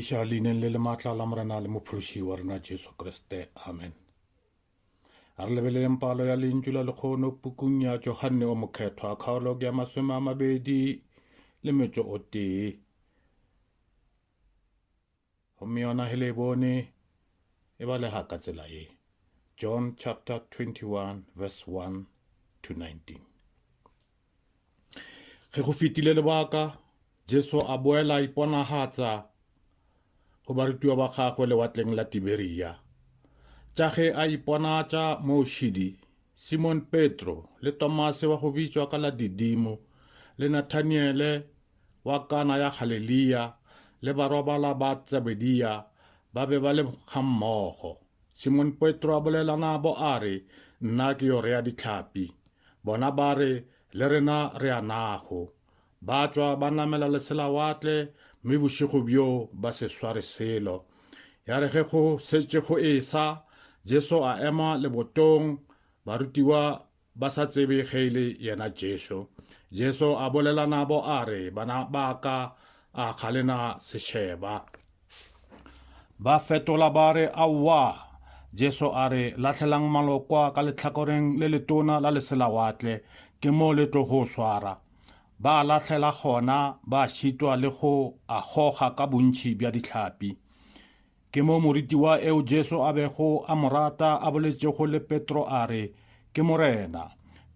Eša leineng le le matla la Morena le Mophološi wa rena Jesu Kriste. Amen. A re lebeleleng palo ya lentšu la lekgono pukung ya Johanne o Mokgethwa, kgaolo ya masome a mabedi le metso o tee. Gomme yona he le e bone e balega ka tsela ye. John chapter 21 verse 1 to 19. Ge go fetile lebaka, Jesu a boela a iponagatsa go barutiwa ba gagwe lewatleng la Tiberia. Tša ge a iponatša moo šidi, Simon Petro le Tomase wa go bitšwa ka la Didimo le Nathaniele wa Kana ya Galilia le barobala ba Tsebedia ba be ba le gammogo. Simon Petro a bolela nabo a re, Nna ke yo rea ditlhapi. Bona ba re, Le rena re a nago. Ba tšwa ba namela leselawatle, mme bošego bjo ba se sware selo. Ya re ge go setše go esa, Jesu a ema lebotong, barutiwa ba sa tsebe ge e le yena Jesu. Jesu a bolela nabo a re, Bana ba ka a ga le na sešeba. Ba fetola ba re, Aowa! Jesu a re, Lahlelang malokwa ka letlhakoreng le letona la leselawatle, ke mo le tlo go swara. Ba a lahlela gona, ba šitwa le go a goga ka bontšhi bja dihlapi. Ke mo moritiwa eo Jesu a bego a mo rata a boletšego le Petro a re, Ke Morena.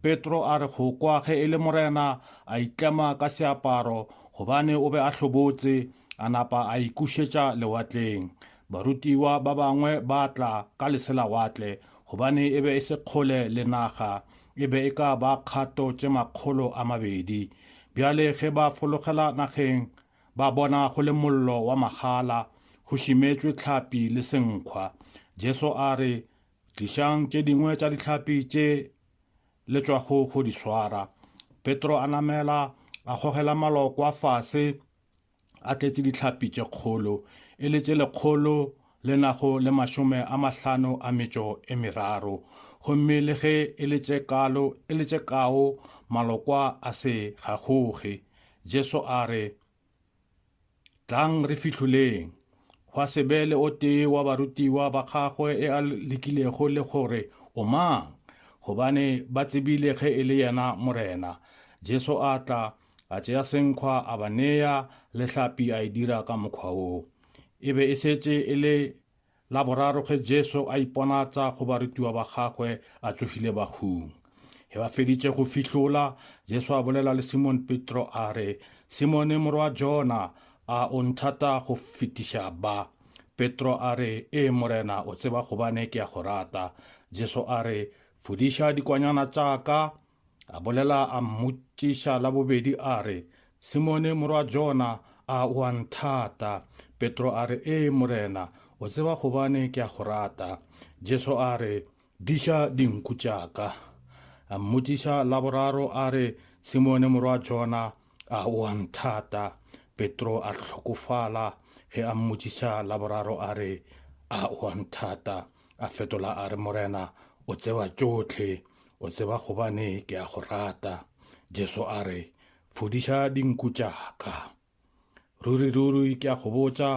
Petro a re go kwa ge e le Morena a itlema ka seaparo gobane o be a hlobotse, a napa a ikušetša lewatleng. Barutiwa ba bangwe ba tla ka leselawatle gobane e be e se kgole le naga, e be e ka ba kgato tše makgolo a mabedi. Bjale ge ba fologela nageng Ba bona go le mollo wa magala, go šimetšwe tlhapi le senkgwa. Jesu a re, Tlišang tše dingwe tša ditlhapi tše le tšwago go di swara. Petro a namela, a gogela malokwa fase, a tletše ditlhapi tše kgolo, e le tše lekgolo le nago le mašome a mahlano a metšo e meraro, gomme le ge e le tše kalo, e le tše kao, malokwa a se gagoge. Jesu a re, Tlang re fihloleng. Gwa se be le o tee wa barutiwa ba gagwe e a lekilego le gore, O mang? Gobane ba tsebile ge e le yena Morena. Jesu a tla, A tšea senkgwa a ba nea, le hlapi a e dira ka mokgwa wo. E be e šetše e le la boraro ge Jesu a iponatsa go barutiwa ba gagwe a tsogile bahung. Ge ba feditše go fihlola, Jesu a bolela le Simone Petro a re, Simone morwa Jona, a o nthata go fetiša ba? Petro a re, Ee Morena, o tseba gobane ke a go rata. Jesu a re, Fodiša dikwanyana tša ka. A bolela a mmotšiša la bobedi a re, Simone morwa Jona, a o a nthata? Petro a re, Ee, Morena, o tseba gobane ke a go rata. Jesu a re, Diša dinku tša ka. A mmotšiša la boraro a re, Simone morwa Jona, a o a nthata? Petro a hlokofala ge a mmotšiša la boraro a re, A o a nthata? A fetola a re, Morena, o tseba tšohle, o tseba gobane ke a go rata. Jesu a re, Fodiša dinku tša ka. Ruri-ruri ke a go botša,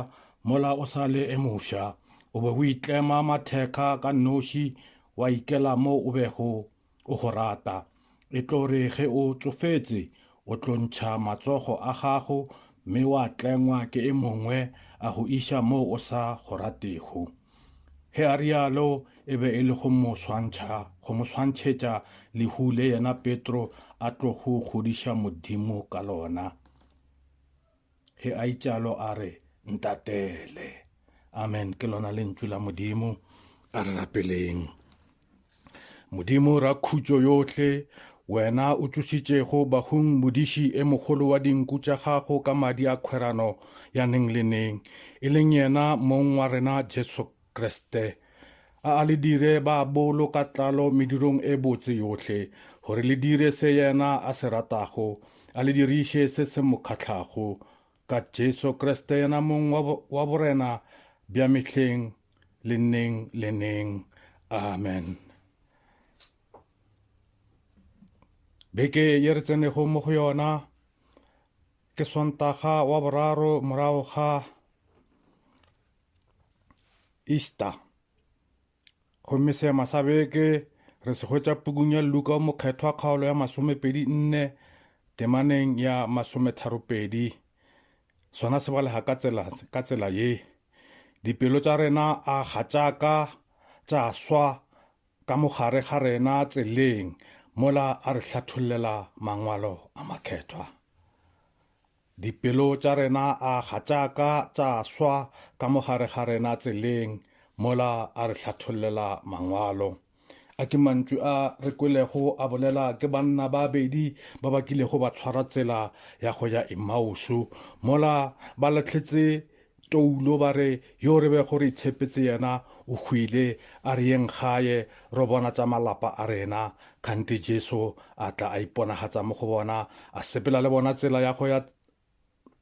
mola o sa le e mofsa, o be o itlema matheka ka nnoši, wa ikela mo o bego o go rata. E tlo re ge o tsofetse, o tlo ntšha matsogo a gago mme wa tlengwa ke e mongwe a go iša moo o sa go ratego. Ge a rialo e be e le go mo swantšha, go mo swantšhetša lehu le yena Petro a tlogo kgodiša Modimo ka lona. Ge a itšalo a re, Ntatele. Amen. Ke lona lentšu la Modimo. A re rapeleng. Modimo ra khutšo yohle, wena o tšositšego bahung modiši e mogolo wa dinku tša gago ka madi a khwerano ya neng le neng, e leng yena mong wa rena Jesu Kriste. A a le dire ba bolo ka tlalo medirong e botse yohle, gore le dire se yena a se ratago, a le diriše se se mo kgahlago, ka Jesu Kriste yena mong wa, wa borena bja mehleng le neng le neng. Amen. Beke ye re tsenego mo go yona ke sontaga wa boraro morago ga Easter. Gomme seema sa beke re se hwetša pukung ya Luka o mokgethwa kgaolo ya masomepedi nne temaneng ya masometharopedi. Sona se balega ka tsela, ka tsela ye. Dipelo tša rena a gatšaka tša swa ka mogare ga rena tseleng mola a re hlathollela mangwalo a makgethwa. Dipelo tša rena a ga tša ka tša swa ka mo gare ga rena tseleng mola a re hlathollela Mangwalo. A ke mantšu a re kwelego a bolela ke banna ba bedi ba ba kilego ba tshwara tsela ya go ya Emausu mola ba lahletse Toulo ba re yo re bego re itshepetse yena o hwile, a re yeng gae ro bona tša malapa a rena. Kganthe Jesu a tla a iponagatsa mo go bona, a sepela le bona tsela ya go ya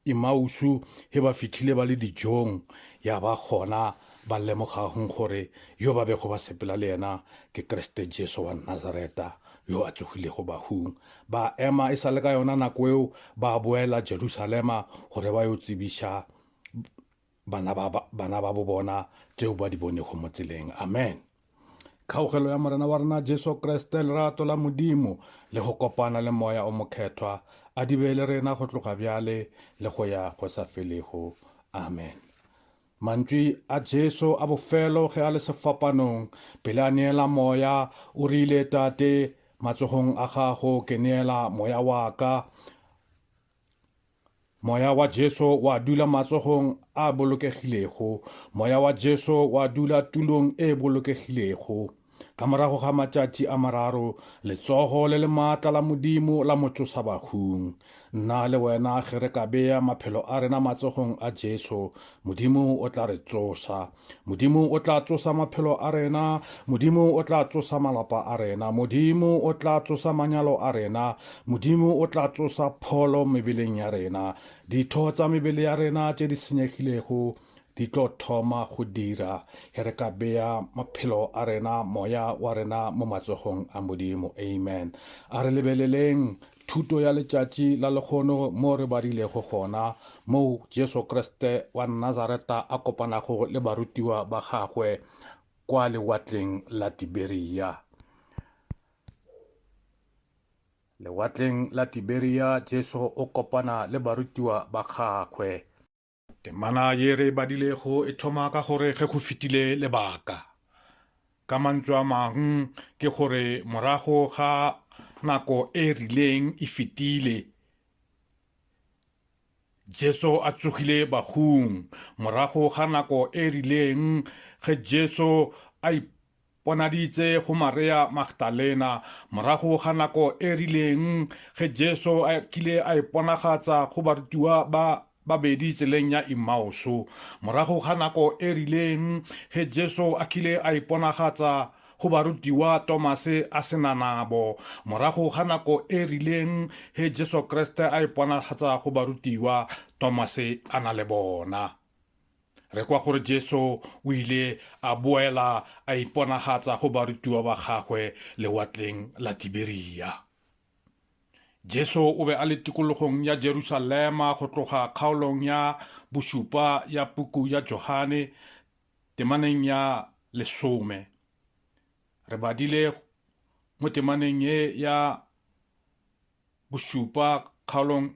Emausu. Ge ba fihlile ba le dijong, ya ba gona ba lemogagng gore yo ba bego ba sepela le yena ke Kriste Jesu wa Nazareta yo a tsogilego bahung. Ba ema e sa le ka yona nako eo, ba boela Jerusalema gore ba yo tsebiša bana ba, bana ba bo bona tšeo ba di bonego mo tseleng. Amen. Kgaogelo ya Morena wa rena Jesu Kriste, lerato la Modimo le go kopana le Moya o Mokhethwa a di be le rena go tloga bjale le go ya go sa felego. Amen. Mantšwi a Jesu a bofelo ge a le sefapanong pele a neela moya, o rile, Tate, matsogong a gago ke neela moya wa ka. Moya wa Jesu wa dula matsogong a bolokegilego. Moya wa Jesu wa dula tulong e bolokegilego. Ka morago ga matšatši a mararo, letsogo le le maatla la Modimo la mo tsosa bahung. Nna le wena ge re ka bea maphelo a rena matsogong a Jesu, Modimo o tla re tsosa. Modimo o tla tsosa maphelo a rena, Modimo o tla tsosa malapa a rena, Modimo o tla tsosa manyalo a rena, Modimo o tla tsosa pholo mebeleng ya rena, ditho tsa mebele ya rena tše di senyegilego, di tlo thoma go dira ge re ka bea maphelo a rena moya wa rena mo matsogong a modimo amen a re lebeleleng thuto ya letšatši la lekgono mo re badilego gona moo jesu kriste wa nazareta a kopanago le barutiwa ba gagwe kwa lewatleng la tiberia lewatleng la tiberia jesu o kopana le barutiwa ba gagwe Temana ye re e badilego e thoma ka gore ge go fetile lebaka. Ka mantswe a mang ke gore morago ga nako e rileng e fetile, Jesu a tsogile bahung. Morago ga nako e rileng ge Jesu a Ponaditse go Marea Magdalena. Morago ga nako e rileng, ge Jesu a kile a iponagatsa go barutiwa ba babedi tseleng ya Imaoso. Morago ga nako e rileng, ge Jesu a kile a iponagatsa go barutiwa Tomase a se na nabo. Morago ga nako e rileng, ge Jesu Kriste a iponagatsa go barutiwa, Tomase a na le bona. Re kwa gore Jesu o ile a boela a iponagatsa go barutiwa ba gagwe lewatleng la Tiberia. Jesu o be a le tikologong ya Jerusalema go tloga kgaolong ya bošupa ya puku ya Johane temaneng ya lesome. Re badile mo temaneng ye ya Bošupa, kgaolong,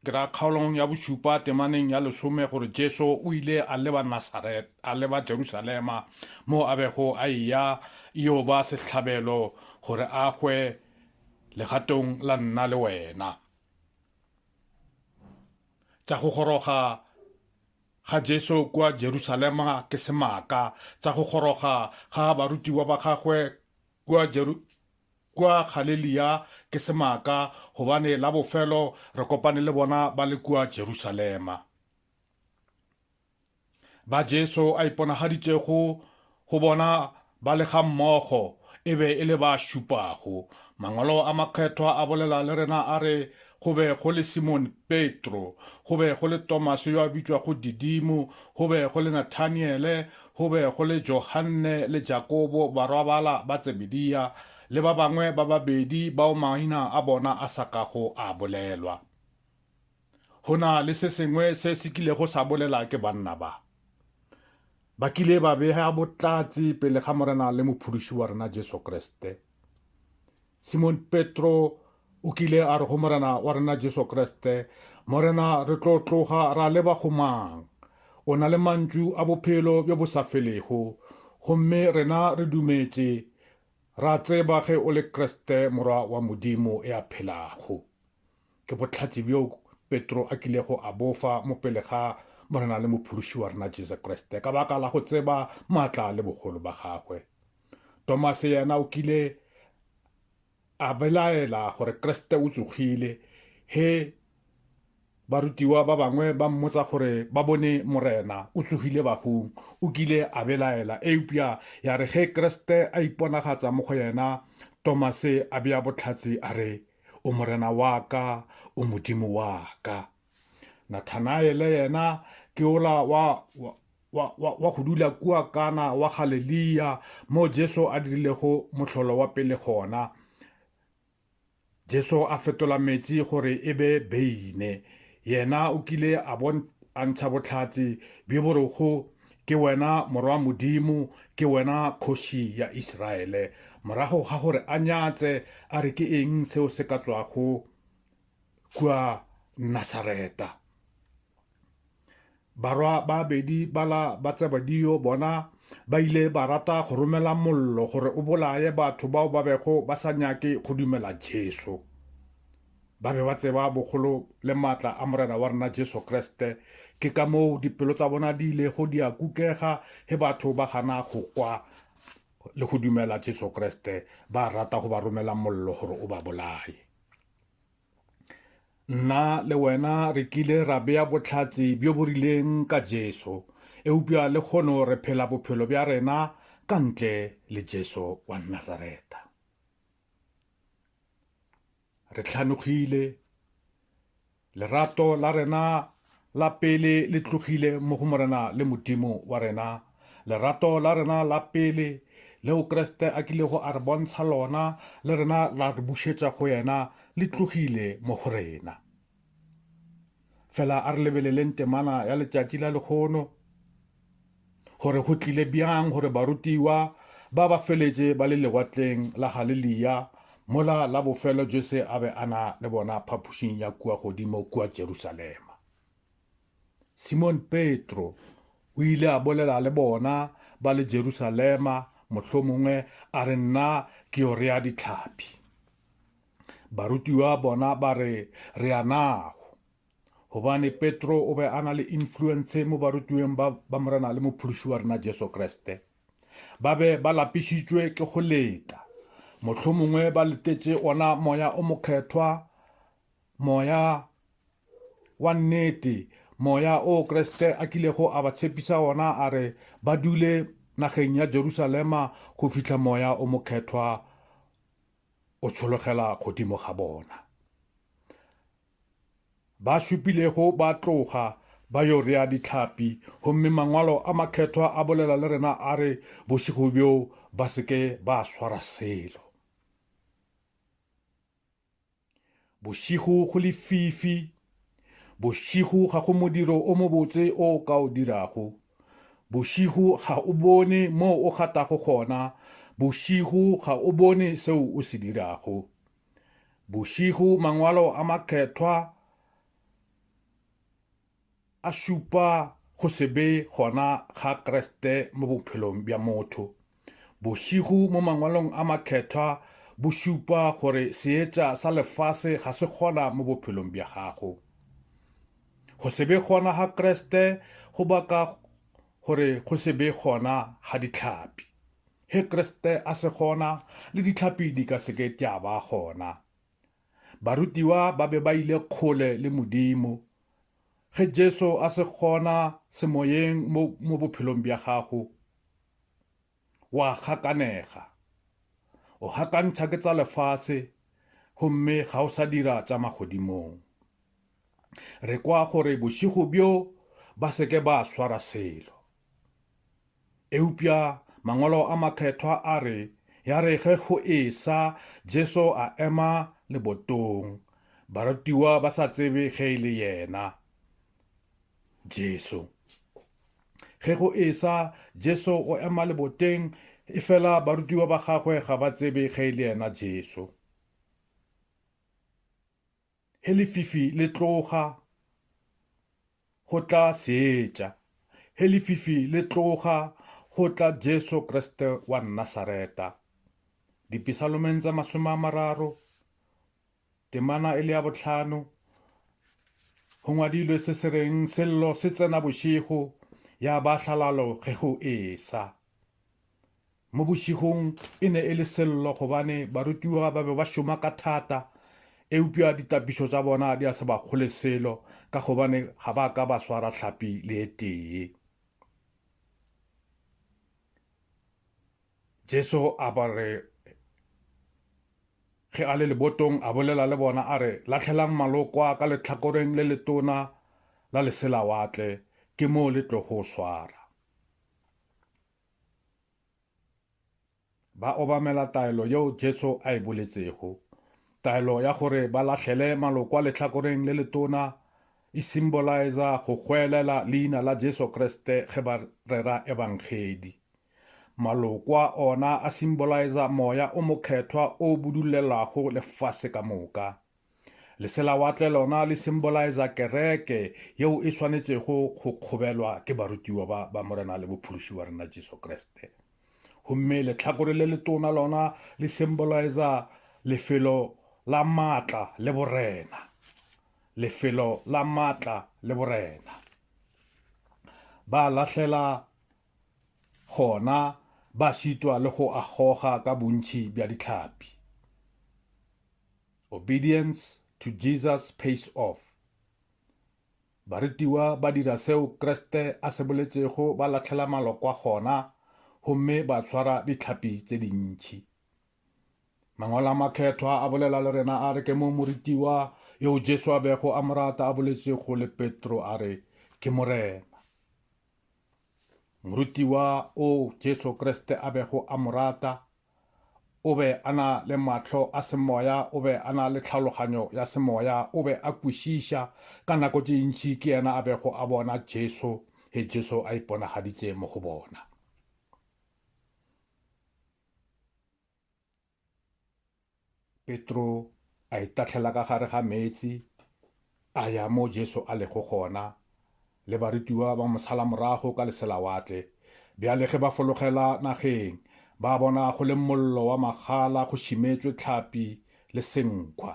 ke ra kgaolong ya bošupa temaneng ya lesome, gore Jesu o ile a leba Nasaret, a leba Jerusalema, mo a bego a eya yo ba sehlabelo gore a hwe legatong la nna le wena. Tša go goroga ga Jesu kwa Jerusalema ke semaka, tša go goroga ga barutiwa ba gagwe kwa Jeru Kua Galilea ke semaka, gobane la bofelo re kopane le bona ba le kua Jerusalema. Ba Jesu a iponagaditšego go bona ba le ga mmogo e be e le ba šupago. Mangwalo a makgethwa a bolela le rena a re, go be go le Simon Petro, go be go le Tomase yo a bitšwago Didimo, go be go le Nathaniele, Go be go le Johanne le Jakobo barwabala ba Tsebediya le ba bangwe ba babedi bao maina a bona a sa kago a bolelwa. Go na le se sengwe se se kilego sa bolela ke banna ba. Ba kile ba bea botlatsi pele ga Morena le Mophološi wa rena Jesu Kriste. Simon Petro o kile a re go Morena wa rena Jesu Kriste, Morena, re tlo tloga ra leba go mang? O na le mantšu a bophelo bjo bo sa felego, gomme rena re dumetše, ra tseba ge o le Kriste, Morwa wa Modimo ya phelago. Ke bohlatse bjo Petro a kilego a bofa mo pele ga Morena le Mophološi wa rena Jesu Kriste ka baka la go tseba maatla le bogolo ba gagwe. Tomase yena o kile a belaela gore Kriste o tsogile he barutiwa ba bangwe ba mmotsa gore ba bone Morena o tsogile bagong o kile a belaela eupša ya re ge Kriste a iponagatsa mo go yena Tomase a bea botlhatsi a re O Morena wa ka, o Modimo wa ka. Nathanaele yena ke ola wa, wa, wa, wa, wa go dula kua kana wa Galilia mo Jesu a dirilego mohlolo wa pele gona. Jesu a fetola metsi gore e be beine. Yena o kile a, bon, a ntsha botlhatsi bjo borogo Ke wena Morwa Modimo, ke wena Kgoši ya Isiraele. Morago ga gore a nyatse, a re ke eng seo se ka tloago kua Nasareta. Barwa ba bedi bala ba tsebadio bona ba ile ba rata go romela mollo gore o bolaye batho bao ba bego ba sa nyake go dumela Jesu. Ba be ba tseba bogolo le maatla a Morena wa rena Jesu Kriste. Ke ka moo dipelo tsa bona di ilego di a kukega ge batho ba gana go kwa le go dumela Jesu Kriste, ba rata go ba romela mollo gore o ba bolaye. Nna le wena re kile ra bea botlhatsi bjo bo rileng ka Jesu, eupša le kgono re phela bophelo bja rena ka ntle le Jesu wa Nazareta. Re hlanogile. Lerato la rena la pele le tlogile mo go Morena le Modimo wa rena. Lerato la rena la pele leo Kriste a kilego a re bontsha lona le rena la re bušetša go yena le tlogile mo go rena. fela a re lebeleleng temana ya letšatši la lekgono gore go tlile bjang gore barutiwa ba ba feletše ba le lewatleng la galilea mola la bofelo jese a be a na le bona phapošing ya kua godimo kua jerusalema simon petro o ile a bolela le bona ba le jerusalema mohlomongwe a re nna ke yo rea ditlhapi Barutiwa bona ba re re a nago. Hobane Petro o be a na le influence mo barutiweng ba, ba Morena le Mophološi wa rena Jesu Kriste. Ba be ba lapišitšwe ke go leta. Motlho mongwe ba letetše ona moya o mokgethwa, moya wa nnete, moya o Kriste a kilego a ba tshepisa ona a re ba dule nageng ya Jerusalema go fihla moya o mokgethwa o tshologela godimo ga bona. Ba šupilego ba tloga ba yo rea ditlhapi gomme mangwalo a makgethwa a bolela le rena a re bošego bjo ba seke ba swara selo Bošego go lefifi. Bošego ga go modiro o mobotse o o ka o dirago. Bošego ga o bone mo o gatago gona, bošego ga o bone seo o se dirago. Bošego mangwalo a makgethwa A šupa go se be gona ga Kriste mo bophelong bja motho. Bošego mo Mangwalong a Makhethwa bo šupa gore seetša sa lefase ga se gona mo bophelong bja gago. Go se be gona ga Kriste go baka gore go se be gona ga ditlhapi. He Kriste a se gona, le ditlhapi di ka seke tša ba gona. Barutiwa ba be ba ile kgole le Modimo Ge Jesu a se gona semoyeng mo, mo bophelong bja gago, wa gakanega. O gakantšha ke tsa lefase, gomme ga o sa dira tša magodimong. Re kwa gore bošigo bjo ba seke ba swara selo. Eupša mangwalo a makgethwa a re, ya re ge go esa, Jesu a ema lebotong, barutiwa ba sa tsebe ge e le yena. Jesu. Ge go esa, Jesu o ema leboteng, efela barutiwa ba gagwe ga ba tsebe ge e le yena Jesu. Ge lefifi le tloga go tla seetša. Ge lefifi le tloga go tla Jesu Kriste wa Nnasareta. Dipisalomeng tse masome a mararo, temana e le ya bohlano, go ngwadilwe se se reng sello se tsena bošego ya ba hlalalo ge go esa. Mo bošegong e ne e le sello gobane barutiwa ba be ba šoma ka thata, eupša ditapišo tša bona di a se ba kgole selo ka gobane ga ba ka ba swara hlapi le e tee. Jesu a ba re ge a le lebotong a bolela le bona a re latlhelang malokwa ka letlhakoreng le letona la leselawatle ke moo le tlogo swara Ba obamela taelo yeo Jesu a e boletšego. Taelo ya gore ba lahlele maloko a lehlakoreng le letona e simbolaeza go hwelela leina la Jesu Kriste ge ba rera ebangedi. Malokwa ona a simbolaeza moya o mokgethwa o budulelwago lefase ka moka. Leselawatle lona le symboliza kereke yeo e swanetšego go kgobelwa ke barutiwa ba, ba Morena le Bophološi wa rena Jesu Kriste. Gomme letlhakore le letona lona le symboliza lefelo la maatla le borena. Lefelo la maatla le borena. Ba lahlela gona ba šitwa le go agoga ka bontši bja ditlhapi. Obedience to Jesus Pays Off. Barutiwa ba dira seo Kriste a se boletšego ba lahlela malokwa gona gomme ba tshwara ditlhapi tse dintši. Mangwalo a makgethwa a bolela le rena a re ke mo morutiwa yo Jesu a bego a morata a boletšego le Petro a re ke Morena. Morutiwa o Jesu Kriste a bego a morata O be a na le mahlo a semoya, o be a na le tlhaloganyo ya semoya, o be a kwešiša. Ka nako tše ntši ke yena a bego a bona Jesu, ge Jesu a iponagaditše mo go bona. Petro a itahlela ka gare ga meetse, a ya mo Jesu a lego gona, le barutiwa ba mo sala morago ka leselawatle. Bjale ge ba fologela nageng, ba bona go le mollo wa magala go šimetšwe tlhapi le senkhwa.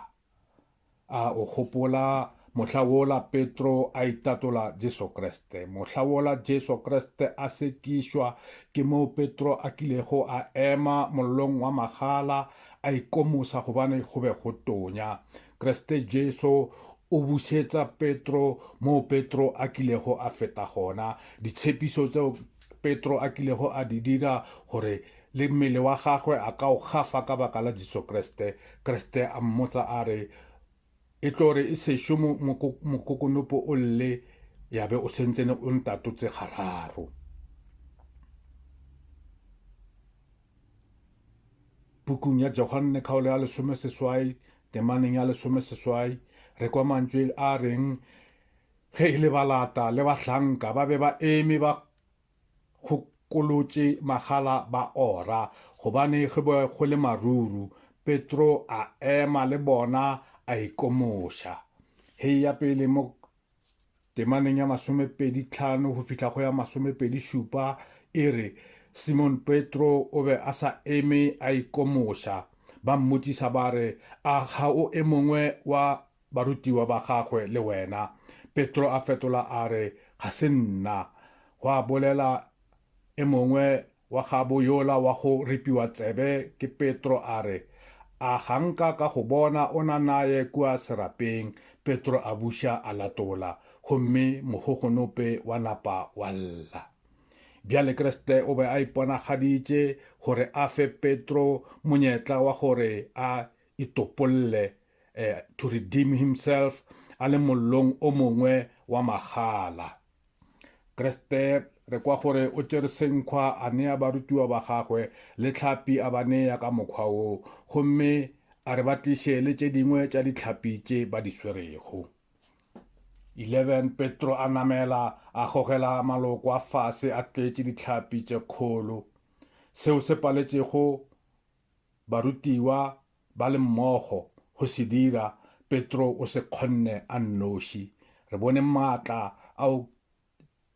A o gopola mohla wola Petro a itatola Jesu Kriste? Mohla wola Jesu Kriste a sekišwa, ke moo Petro a kilego a ema mollong wa magala a ikomosa gobane go be go tonya. Kriste Jesu o bušetsa Petro moo Petro a kilego a feta gona. Ditshepišo tseo Petro a kilego a di dira gore le mmele wa gagwe a ka o gafa ka baka la Jesu Kriste. Kriste a mmotsa a re, E tlo re e sešo mokokonopo o lle ya be o sentsene o ntatotse gararo. Pukung ya Johanne kgaolo ya lesome seswai temaneng ya lesome seswai re kwa mantšwe a reng Ge e le balata le bahlanka ba be ba eme ba kgokolotše magala ba ora, gobane go be go le maruru, Petro a ema le bona a ikomoša. Hei ya pele mo temaneng ya masomepedi tlhano go fihla go ya masomepedi šupa e re, Simon Petro o be a sa eme a ikomoša. Ba mmotšiša ba re, A ga o e mongwe wa Barutiwa ba gagwe le wena. Petro a fetola a re, Ga se nna. Gwa bolela e mongwe wa gabo yola wa go ripiwa tsebe ke Petro a re, A ga nka ka go bona o na naye kua serapeng? Petro a buša a latola, gomme mogogonope wa napa wa lla. Bjale Kriste o be a iponagaditše gore a fe Petro monyetla wa gore a itopolle eh, to redeem himself a le mollong o mongwe wa magala kreste re kwa gore o tsere senkgwa a nea barutiwa ba gagwe le tlhapi a ba nea ka mokgwa wo gomme a re ba tliše le tše dingwe tša ditlhapi tše ba di swerego 11 petro a namela a gogela maloko a fase a tletše ditlhapi tše kgolo seo se paletšego Barutiwa ba le mmogo go se dira, Petro o se kgonne a nnoši. Re bone maatla ao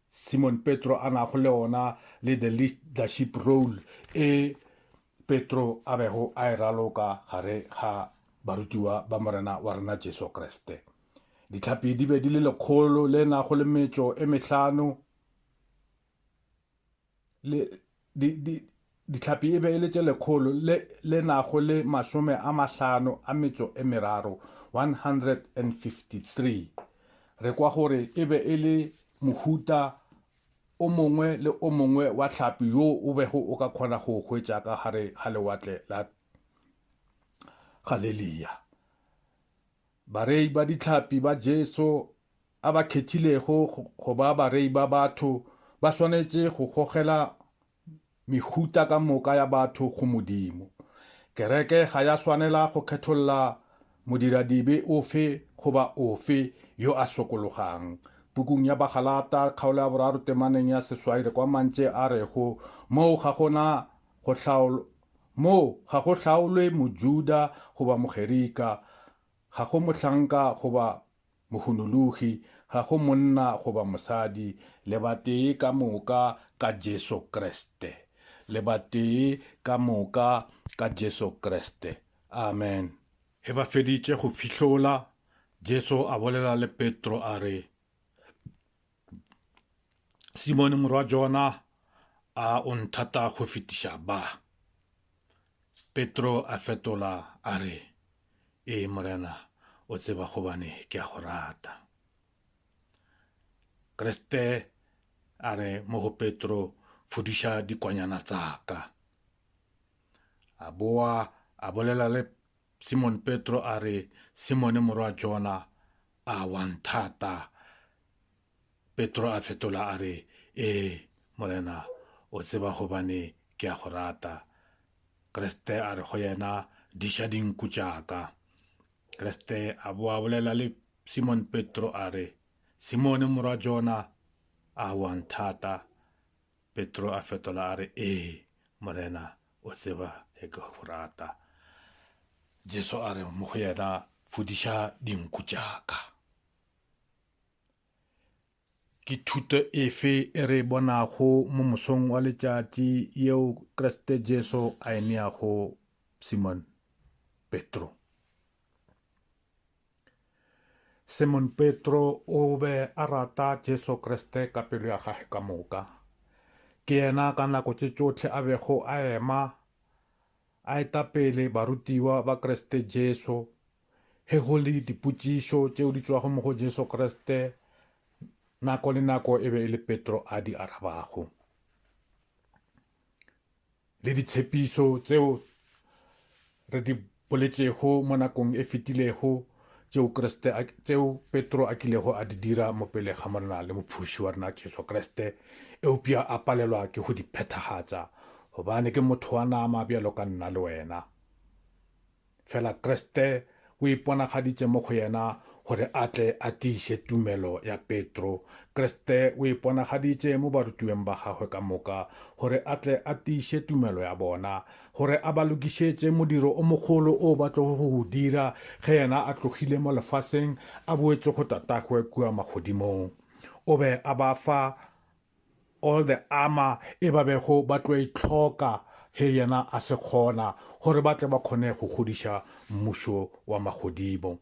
Simon Petro a nago le ona le the leadership role e Petro a bego a e raloka gare ga barutiwa ba Morena wa rena Jesu Kriste. Ditlhapi di be di le lekgolo le nago le metšo e mehlano, le di, di, ditlhapi e be e le tše lekgolo le, le nago le masome a mahlano a metso e meraro 153 re kwa gore e be e le mohuta o mongwe le o mongwe wa tlhapi yo o bego o ka kgona go hwetša ka gare ga lewatle la galelia Barei ba ditlhapi ba Jesu a ba khethilego go ba barei ba batho ba swanetše go gogela mehuta ka moka ya batho go Modimo. Kereke ga ya swanela go kgetholla modiradibe ofe goba ofe yo a sokologang. Pukung ya Bagalata, kgaolo ya boraro temaneng ya seswai re kwa mantše a rego, Moo ga go na go Moo ga go hlaolwe Mojuda goba Mogerika, ga go mohlanka goba mohunologi, ga go monna goba mosadi, le batee ka moka ka Jesu Kriste. Le batee ka moka ka Jesu Kriste. Amen. Ge ba feditše go fihlola, Jesu a bolela le Petro a re, Simone morwa Jona, a o nthata go fetiša ba? Petro a fetola a re, Ee, Morena, o tseba gobane ke a go rata. Kriste a re mo go Petro, Fudiša dikwanyana tsa ka. A boa a bolela le Simone Petro a re, Simone morwa Jona, a wa nthata Petro a fetola a re, Ee, Morena, o tseba gobane ke a go rata. Kriste a re go yena, Diša dinku tša ka. Kriste a boa bolela le Simone Petro a re, Simone morwa Jona, a wa nthata? Petro a fetola a re, Ee, Morena, o tseba ge ke go rata. Jesu a re mo go yena, Fodiša dinku tša ka. Ke thuto efe e re bonago mo mosong wa letšatši yeo Kriste Jesu a e neago Simon Petro? Simon Petro o be a rata Jesu Kriste ka pelo ya gage ka moka. Ke yena ka nako tše tšohle a bego a ema a eta pele barutiwa ba Kriste Jesu Ge go le dipotšišo tšeo di tšwago mo go Jesu Kriste, nako le nako e be e le Petro a di arabago. Le ditshepišo tseo re di boletšego mo nakong e fetilego tšeo Kriste tšeo Petro a kilego a di dira mo pele ga morena le mophuši wa rena Jesu Kriste eupša a palelwa ke go di phethagatša gobane ke motho wa nama bjalo ka nna le wena Fela Kriste o iponagaditše mo go yena gore a tle a tiiše tumelo ya Petro. Kriste o iponagaditše mo barutiweng ba gagwe ka moka gore a tle a tiiše tumelo ya bona, gore a ba lokišetše modiro o mogolo o ba tlogo go o dira ge yena a tlogile mo lefaseng a boetše go Tatagwe kua magodimong. O be a ba fa All the armor e ba bego ba tlo e tlhoka he yena a se kgona gore ba tle ba kgone go godiša mmušo wa magodimo.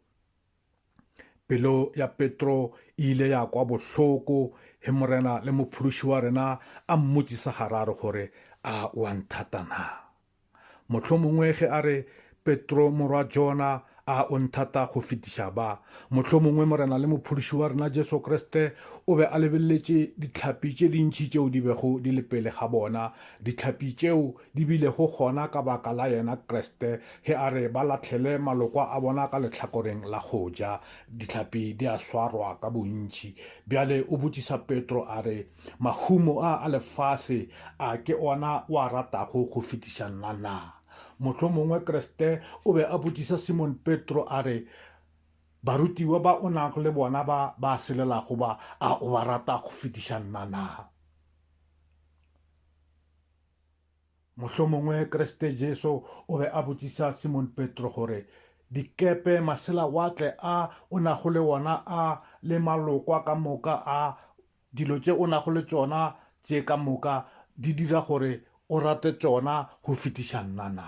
Pelo ya Petro e ile ya kwa bohloko he Morena le Mophološi wa rena a mmotšisa gararo gore a o a nthata na. Mohlomongwe ge a re, Petro, morwa Jona, a o nthata go fetiša ba? Mohlomongwe Morena le Mophološi wa rena Jesu Kriste o be a lebeleletše ditlhapi tše dintši tšeo di bego di le pele ga bona, ditlhapi tšeo di bilego gona ka baka la yena Kriste, ge a re ba lahlele malokwa a bona ka lehlakoreng la go ja. Ditlhapi di a swarwa ka bontši. Bjale o botšiša Petro a re, Mahumo a a lefase a ke ona o a ratago go fetiša nna na? Mohlomongwe Kriste o be a botšiša Simon Petro a re, Barutiwa ba o nago le bona ba ba selelago ba, a o ba rata go fetiša nna na? Mohlomongwe Kriste Jesu o be a botšiša Simon Petro gore, Dikepe, maselawatle a o nago le ona a le malokwa ka moka a Dilo tše o nago le tšona tše ka moka di dira gore o rate tšona go fetiša nna na?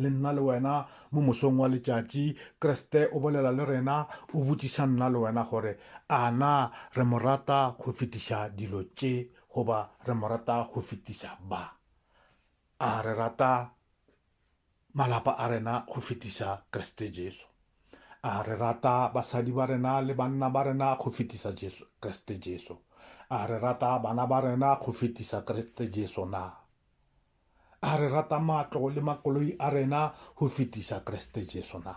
Le nna le wena, mo mosong wa letšatši, Kriste o bolela le rena, o botšiša nna le wena gore a na re mo rata go fetiša dilo tše goba re mo rata go fetiša ba. A re rata? Malapa a rena go fetisa Kriste Jesu. A re rata basadi ba rena le banna ba rena go fetisa Jesu, Kriste Jesu? A re rata bana ba rena go fetisa Kriste Jesu na? A re rata matlo le makoloi a rena go fetisa Kriste Jesu na?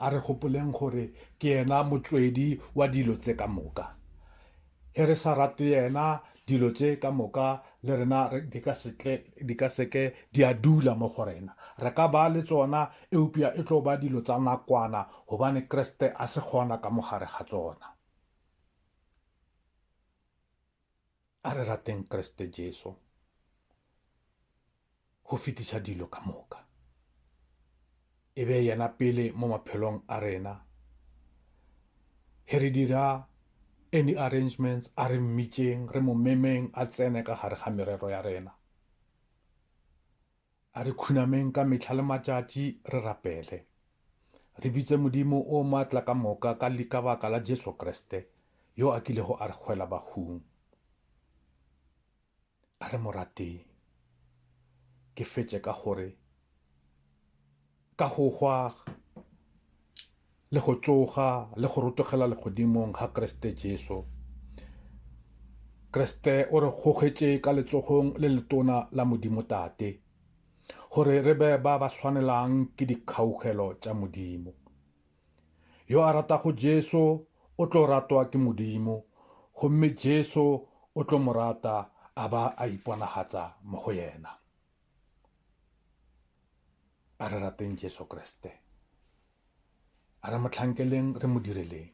A re gopoleng gore ke yena motswedi wa dilo tse ka moka. He re sa rate yena, dilo tse ka moka le rena di ka setle di ka seke di a dula mo go rena re ka ba le tsona eupša e tlo ba dilo tsa nakwana gobane kreste a se gona ka mogare ga tsona A re rateng Kriste Jesu go fetiša dilo ka moka. E be yena pele mo maphelong a rena. He re dira any arrangements a re mmitšeng re mo memeng a tsene ka gare ga merero ya rena. A re khunameng ka mehla le matšatši re rapele, re bitse Modimo o matla ka moka ka li ka baka la Jesu Kriste, yo a kilego a re hwela bahung. A re mo rateng. Ke fetše ka gore, Ka go hwa le go tsoga le go rotogela legodimong ga Kriste Jesu, Kriste o re gogetše ka letsogong le letona la Modimo Tate gore re be ba ba swanelang ke dikgaugelo tša Modimo. Yo a ratago Jesu o tlo ratwa ke Modimo gomme Jesu o tlo mo rata a ba a iponagatsa mo go yena. a re rateng jesu kriste a re motlhankeleng re mo direleng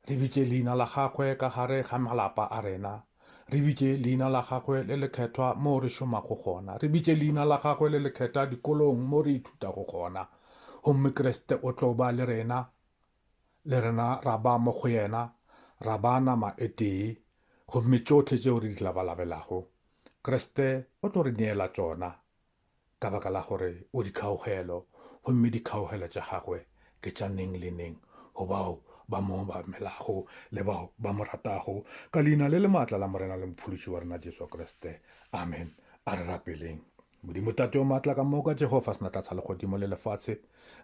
re bitše leina la gagwe ka gare ga malapa a rena re bitše leina la gagwe le lekgethwa moo re šomago gona re bitše leina la gagwe le lekgetha dikolong moo re ithutago gona gomme kriste o tlo ba le rena le rena ra ba mo go yena, ra ba nama e tee, gomme tšohle tšeo re di labalabelago, Kriste o tlo re neela tšona, ka baka la gore o dikgaogelo, gomme dikgaogelo tša gagwe ke tša neng le neng go bao ba mo obamelago le bao ba mo ratago, ka Leina le le maatla la Morena le Mophološi wa rena Jesu Kriste. Amen. A re rapeleng. Modimo Tate o Maatla ka moka, Jehofa Senatlatsa legodimo le lefatshe,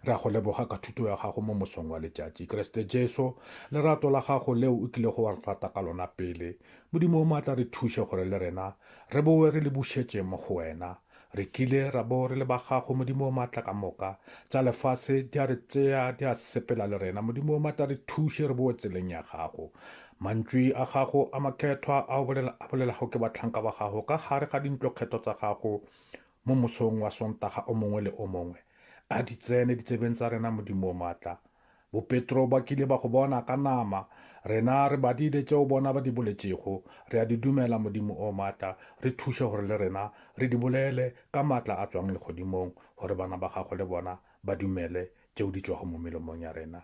re a go leboga ka thuto ya gago mo mosong wa letšatši. Kriste Jesu, lerato la gago leo o kilego wa re rata ka lona pele. Modimo o Maatla, re thuše gore le rena re bowe re le bušetše mo go wena. Re kile ra bo re le ba gago, Modimo o Maatla ka moka. Tša lefase di a re tsea, di a sepela le rena. Modimo o Maatla, re thuše re bowe tseleng ya gago. Mantšwi a gago a makgethwa a a bolelago ke bahlanka ba gago ka gare ga dintlokgetho tsa gago mo mosong wa Sontaga o mongwe le o mongwe, a di tsene ditsebeng tsa rena, Modimo o maatla. Bopetro ba kile ba go bona ka nama. Rena re badile tšeo bona ba di boletšego. Re a di dumela, Modimo o maatla. Re thuše gore le rena re di bolele ka maatla a tšwang Legodimong, gore bana ba gago le bona ba dumele tšeo di tšwago mo melomong ya rena.